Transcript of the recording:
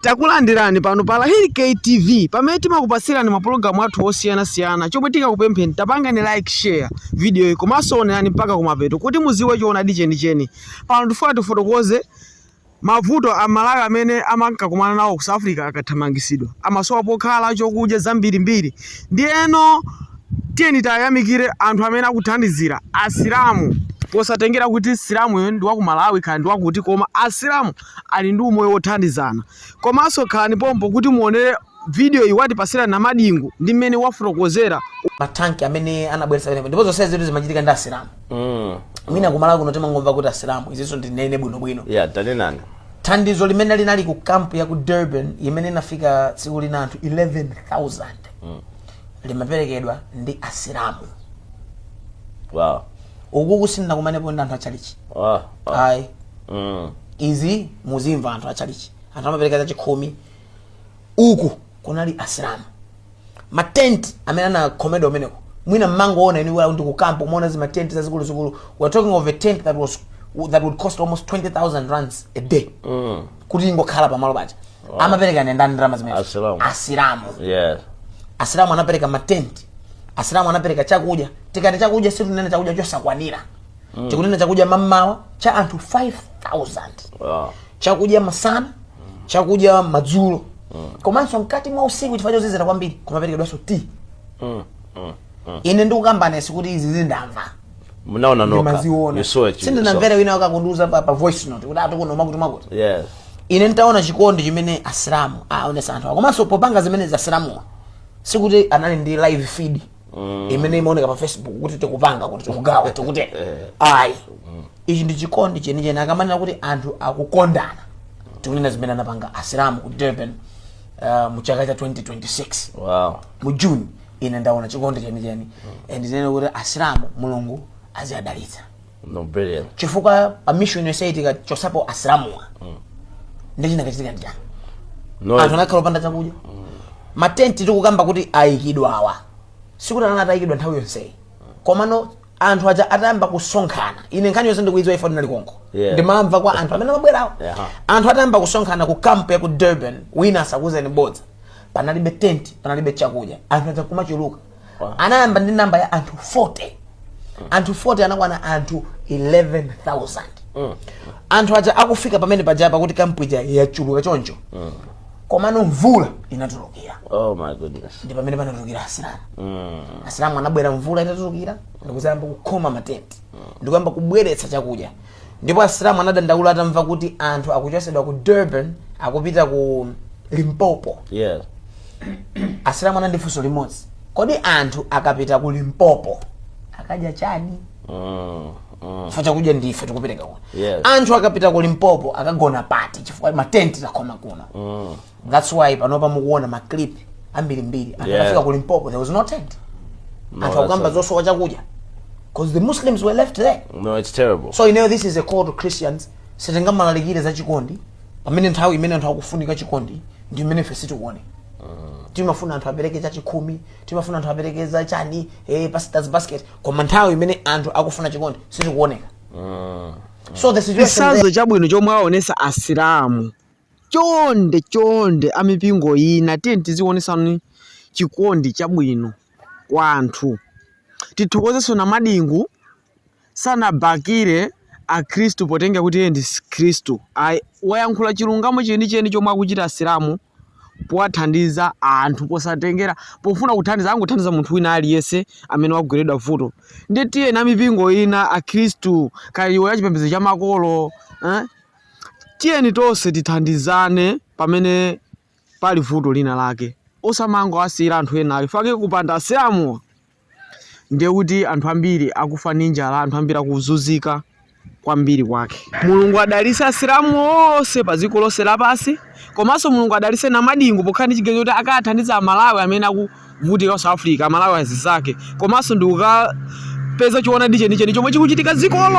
Takulandirani pano pa Lahiri K TV pamene timakupasirani mapulogalamu athu osiyanasiyana chomwe tikukupempheni tapangani like share video iyi komanso onerani mpaka kumapeto kuti muziwe choonadi chenicheni pano tifuna tifotokoze mavuto a amalawi amene amakumana nawo ku south africa akathamangisidwa amasowa pokhala chokudya zambirimbiri ndiyeno tiyeni tayamikire anthu amene akuthandizira asilamu posatengera kuti msilamuyo ndi waku malawi kaya ndi wakuti koma asilamu ali ndi umoyo wothandizana. Komanso khalani pompo kuti muonere vidiyoyi watipasira Namadingo ndi mmene wafotokozera matenti amene anabweretsa pamenepo ndipo zonse zitu zimachitika ndi asilamu Mm. mwina kuMalawi kuno timangomva kuti asilamu izinso ndinene bwinobwino Yeah, tanenani. thandizo limene linali ku kampu ya ku durban imene inafika tsiku lina anthu 11000 limaperekedwa ndi asilamu Wow. uku sindinakumanepo ndi anthu achalichi Wow. ayi mm. izi muzimva anthu achalichi anthu amapereka zachakhumi uku kunali asilamu matenti amene anakhomedwa kumeneko mwina mmangoona inu kuti ku kampu umaona zi matenti zazikuluzikulu we are talking of a tent that was that would cost almost 20000 rands a day mm. kuti ingokhala pamalo paja wow. amapereka ndi ndani ndalama zimene asilamu, asilamu. Yes. asilamu anapereka matenti asilamu anapereka chakudya tikati chakudya situnena chakudya chosakwanira mm. tikunena chakudya mammawa cha anthu 5000 wow. chakudya masana chakudya madzulo mm. komanso mkati mwa usiku chifukwa chozizira kwambiri kumaperekedwanso ti mm. mm. mm. ine ndikukamba sikuti izi ndamva munaona nokha sindinamvera wina akundiuza pa, pa voice note kuti atokuno makuti makuti yes. ine ndaona chikondi chimene asilamu aonesa anthu komanso popanga zimenezo asilamuwa sikuti anali ndi live feed imene imaoneka pa facebook kuti tikupanga kuti tikugawa tikuti ayi ichi ndi chikondi chenicheni akamanena kuti anthu akukondana tikunena zimene anapanga asilamu ku durban uh, mu chaka cha 2026 wow mu june ine ndaona chikondi chenicheni and ndinene kuti asilamu mulungu aziadalitsa no brilliant chifukwa pa mission yonse tikachotsapo asilamuwa nde chinakachitika ndi chani no anthu anakakhala opanda chakudya matenti tikukamba kuti ayikidwawa sikuti anali atayikidwa nthawi yonseyi komano anthu aja atayamba kusonkhana ine nkhani yonse ndikuidziwa chifukwa ndinali konko Yeah. ndimamva kwa anthu amene amabwerawo Yeah. anthu atayamba kusonkhana ku kampu ya ku durban wina asakuuzeni bodza panalibe tenti panalibe chakudya anthu aja kumachuluka anayamba ndi namba ya anthu 40 anthu 40 anakwana anthu 11000 anthu aja akufika pamene paja pakuti kampu ija yachuluka choncho komano mvula inatulukira oh my goodness ndi pamene panatulukira asilamu asilamu anabwera mvula itatulukira ndikuzayamba kukhoma matenti ndikuyamba kubweretsa chakudya Ndipo asilamu anadandaula atamva kuti anthu akuchosedwa ku Durban akupita ku Limpopo. Yes. Asilamu anali ndi funso limodzi. Kodi anthu akapita ku Limpopo akadya chani? Mm. Mm. Chifukwa chakudya ndife tikupereka kuno. Yes. Anthu akapita ku Limpopo akagona pati chifukwa matenti takhoma kuno. Mm. That's why panopa mukuona ma clip ambirimbiri. Anthu Yeah. anafika ku Limpopo there was no tent. No, Anthu that's akukamba not zosowa chakudya. Cause the Muslims were left there. No, it's terrible. So you know this is a call to Christians. Sitingamalalikire za chikondi pamene nthawi imene anthu akufunika chikondi ndi imene ife sitikuone. timafuna anthu apereke za chakhumi timafuna anthu apereke za chani eh, pastors basket koma nthawi imene anthu akufuna chikondi sitikuoneka so the situation chitsanzo chabwino chomwe aonesa asilamu chonde chonde amipingo ina tiyeni tizionesani chikondi chabwino kwa anthu tithokozenso Namadingo sanabakire akhristu potengera kuti iye ndi khristu ayi wayankhula chilungamo chenicheni chomwe akuchita asilamu powathandiza anthu posatengera pofuna kuthandiza angothandiza munthu wina aliyense amene wagweredwa vuto ndiye tiyeni amipingo ina akhristu kaya iwo achipembedzo cha makolo eh? Tiyeni tonse tithandizane pamene pali vuto lina lake osamangowasiyira anthu ena ayi chifukwa kupanda asilamu ndiye kuti anthu ambiri akufa ndi njala anthu ambiri akuzunzika kwambiri kwake mulungu adalise asilamu onse pa dziko lonse lapansi komanso mulungu adalise namadingo pokhala ndi chiganizo kuti akathandiza amalawi amene akuvutika ku south africa amalawi anzake komanso ndikukapeza choonadi chenicheni chomwe chikuchitika dzikolo